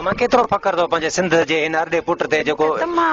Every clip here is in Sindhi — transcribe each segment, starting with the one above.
امان ڪيترو فخر اٿو پنهنجي سنڌ جي هن ارڏي پٽ تي جيڪو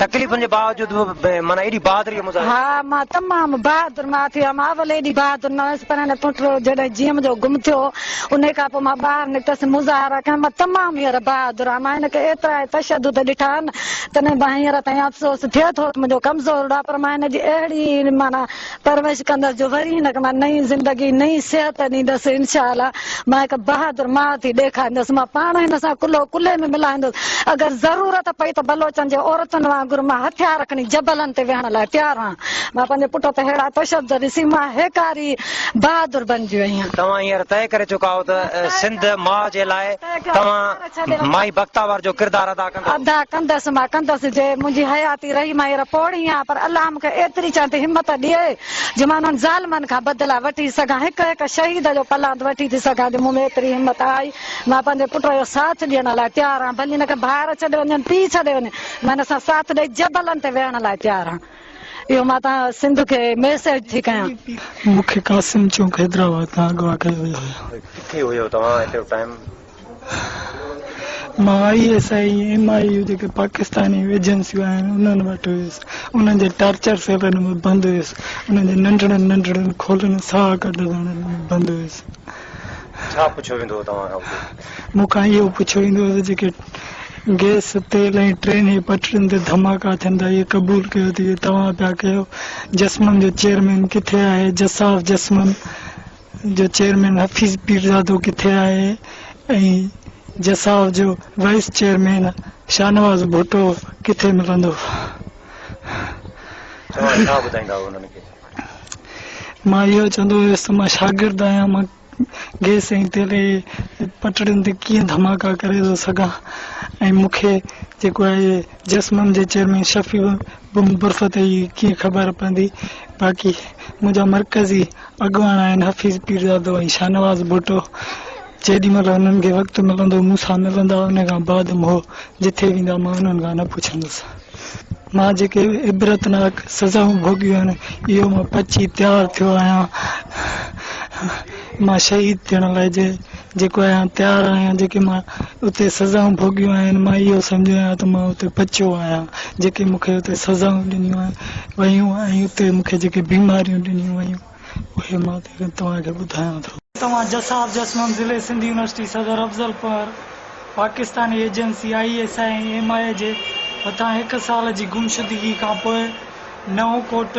تڪليفن جي باوجود به معنيٰ ايڏي بهادري مظاهر ها مان تمام بهادر مان ٿي هيم اول ايڏي بهادر نه هيس پر هن پٽ جڏهن جيء منهنجو گم ٿيو انهي کان پوء مان ٻاهر نڪتس مظاهرا ڪيم مان تمام هينئر بهادر آهيان مان هن کي ايترا هي تشدد ڏٺا آهن تڏهن به هينئر تائين افسوس ٿئي ٿو ته منهنجو ڪمزور ڏا پر مان هن جي اهڙي معنيٰ پرورش ڪندس جو وري هن کي مان نئين زندگي نئين صحت ڏيندس انشاء الله مان هڪ بهادر ماء ٿي ڏيکاريندس مان پاڻ هن سان ڪلهو ڪلهي ۾ ملائيندس اگر ضرورت پئي ته بلوچن جي عورتن وانگر مان هٿيار کڻي جبلن تي ويهڻ لاء تيار آهيان مان پنهنجي پٽ تي ههڙا تشدد ڏسي مان هيڪاري بهادر بنجي وئي آهيان. توهان هينئر طئي ڪري چڪا آهيو ته سنڌ ماء جي لاء توهان مائي بختاور جو ڪردار ادا ڪندس. ادا ڪندس مان ڪندس جي منهنجي حياتي رهي مان هينئر پوڙهي آهيان پر الله مون کي ايتري چوڻ تي همت ڏئي جو مان انهن ظالمن کان بدلا وٺي سگهان هڪ هڪ شهيد جو پلاند وٺي ٿي سگهان جي مون ۾ ايتري همت آئي مان پنهنجي پٽ جو ساٿ ڏيڻ لاء تيار آهيان ڀلي هن کي ڀائر ڇڏي وڃن پيء ڇڏي وڃن مان هن سان ساٿ ڏئي جبلن تي ويهڻ لاء تيار آهيان اهو مان تان سنڌ کي ميسيج ٿي ڪيان. مون کي قاسم چوڪ حيدرآباد کان اغوا ڪيو ويو هيو. ڪٿي هيو توهان ايٽ اي ٽائيم. مان I S I ۽ M I U جيڪي پاڪستاني ايجنسيون آهن انهن وٽ ويس انهن جي ٽارچر سيلن ۾ بند هيس انهن جي ننڍڙن ننڍڙن کولن ساهه ڪڍندڙن ۾ بند هيس. ڇا پڇيو ويندو هو توهان کان اتي؟ مون کان اهو پڇيو ويندو هو ته جيڪي گئس، تيل ۽ ٽرين جي پٽڙين تي ڌماڪا ٿين ٿا اهي قبول ڪيو ته اهي توهان پيا ڪيو؟ جسمن جو چيئرمين ڪٿي آهي؟ جساف جسمن. جو چيئرمين حفيظ پيرزادو ڪٿي آهي ۽ جساف جو وائيس چيئرمين شاهنواز ڀٽو ڪٿي ملندو؟ مان اهو چوندو هيس ته مان شاگرد آهيان مان گيس ۽ تيل جي پٽڙين تي ڪيئن ڌماڪا ڪري ٿو سگهان ۽ مون کي جيڪو آهي جسمم جي چيئرمين شفيع به مبرسه تي ئي ڪيئن خبر پوندي باقي منهنجا مرڪزي اڳواڻ آهن حفيظ پيرزادو ۽ شاهنواز ڀٽو جيڏي مهل انهن کي وقت ملندو مون سان ملندا ان کان بعد مهو جٿي ويندا مان انهن کان نه پڇندس مان جيڪي عبرتناڪ سزائون ڀوڳيون آهن اهو مان پچي تيار ٿيو آهيان مان شهيد ٿيڻ لاء جي جيڪو آهيان تيار آهيان جيڪي مان اتي سزائون ڀوڳيون آهن مان اهو سمجهندو آهيان ته مان اتي بچيو آهيان جيڪي مون کي اتي سزائون ڏنيون ويون ۽ اتي مون کي جيڪي بيماريون ڏنيون ويون اهي مان توهان کي ٻڌايان ٿو. توهان جساب جسمن ضلعي سنڌ يونيورسٽي صدر Afzalpur Pakistani agency I S I ۽ M I اي جي هٿان هڪ سال جي گمشدگي کانپوء نئون ڪوٽ،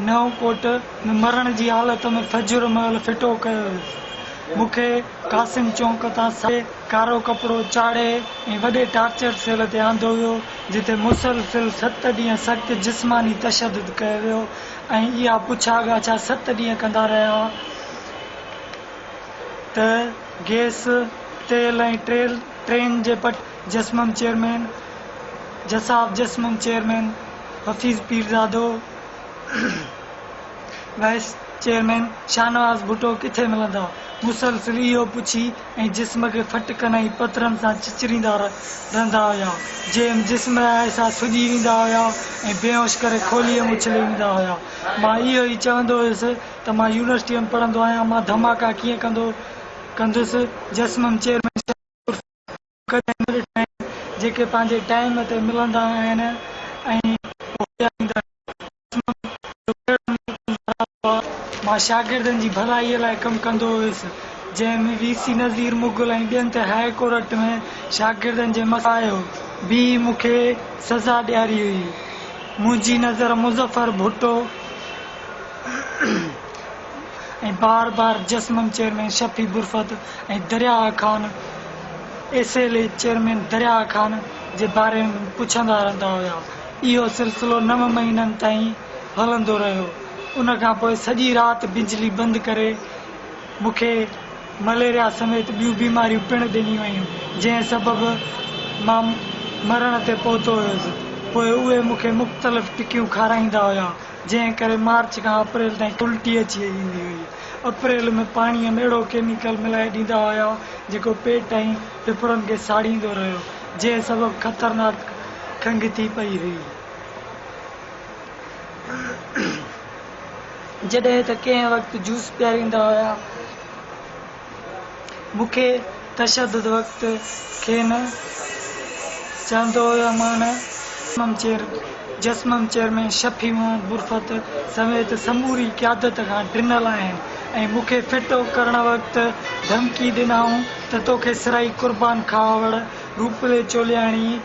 نئون ڪوٽ ۾ مرڻ جي حالت ۾ فجر مهل ڦٽو ڪيو ويو. مون کي قاسم چونڪ تان ساهي ڪارو ڪپڙو چاڙهي ۽ وڏي ٽارچر سيل تي آندو ويو، جتي مسلسل ست ڏينهن سخت جسماني تشدد ڪيو ويو ۽ اها پڇا ڳاڇا ست ڏينهن ڪندا رهيا ته گئس، تيل ۽ ٽرين جي پٽ جسمم چيئرمين، جساف جسمم chairman, Hafeez Pirzado, vice chairman Shahnawaz Bhutto ڪٿي ملندا؟ مسلسل اهو پڇي ۽ جسم کي ڦٽ ڪن ۽ پٿرن سان چچريندا رهندا هيا. جي ايم جسم ۽ آئسا سڄي ويندا هيا ۽ بيهوش ڪري کوليء ۾ اڇلي ويندا هيا. مان اهو ئي چوندو هيس ته مان يونيورسٽيء ۾ پڙهندو آهيان، مان ڌماڪا ڪيئن ڪندو ڪندس؟ جسم ۽ چيئرمين شاهنواز عرف. ڪڏهن نه ڏٺا آهن جيڪي پنهنجي ٽائيم تي ملندا آهن ۽ هوڏيا ڏيندا آهن قسمن جو ڪهڙو نيڪ نظارا هئا. مان شاگردن جي ڀلائي لاء ڪم ڪندو هيس جنهن ۾ وي سي نذير مغل ۽ ٻين ته هاء ڪورٽ ۾ شاگردن جي مسائل بيهي مون کي سزا ڏياري هئي منهنجي نظر مظفر ڀٽو ۽ بار بار جسمن چيئرمين شفيع برفت ۽ درياهه Khan S L A chairman Dariya Khan جي باري ۾ پڇندا رهندا هيا اهو سلسلو نو مهينن تائين هلندو رهيو ان کان پوء سڄي رات بجلي بند ڪري مون کي مليريا سميت ٻيون بيماريون پڻ ڏنيون ويون جنهن سبب مان مرڻ تي پهتو هيس پوء اهي مون کي مختلف ٽڪيون کارائيندا هيا. جنهن ڪري مارچ کان اپريل تائين الٽي اچي ويندي هئي. اپريل ۾ پاڻيء ۾ اهڙو ڪيميڪل ملائي ڏيندا هيا جيڪو پيٽ ۽ ڦڦڙن کي ساڙيندو رهيو، جنهن سبب خطرناڪ کنگهه ٿي پئي هئي. جڏهن ته ڪنهن وقت جوس پياريندا هيا. مون کي تشدد وقت کين چاهندو هيومان. جسمم چيئرمين شفيع محمد برفت سميت سموري قيادت کان ڊنل آهن ۽ مون کي ڦٽو ڪرڻ وقت ڌمڪي ڏنائون ته توکي سرائي قربان کهاوڙ، روپلي چولياڻي،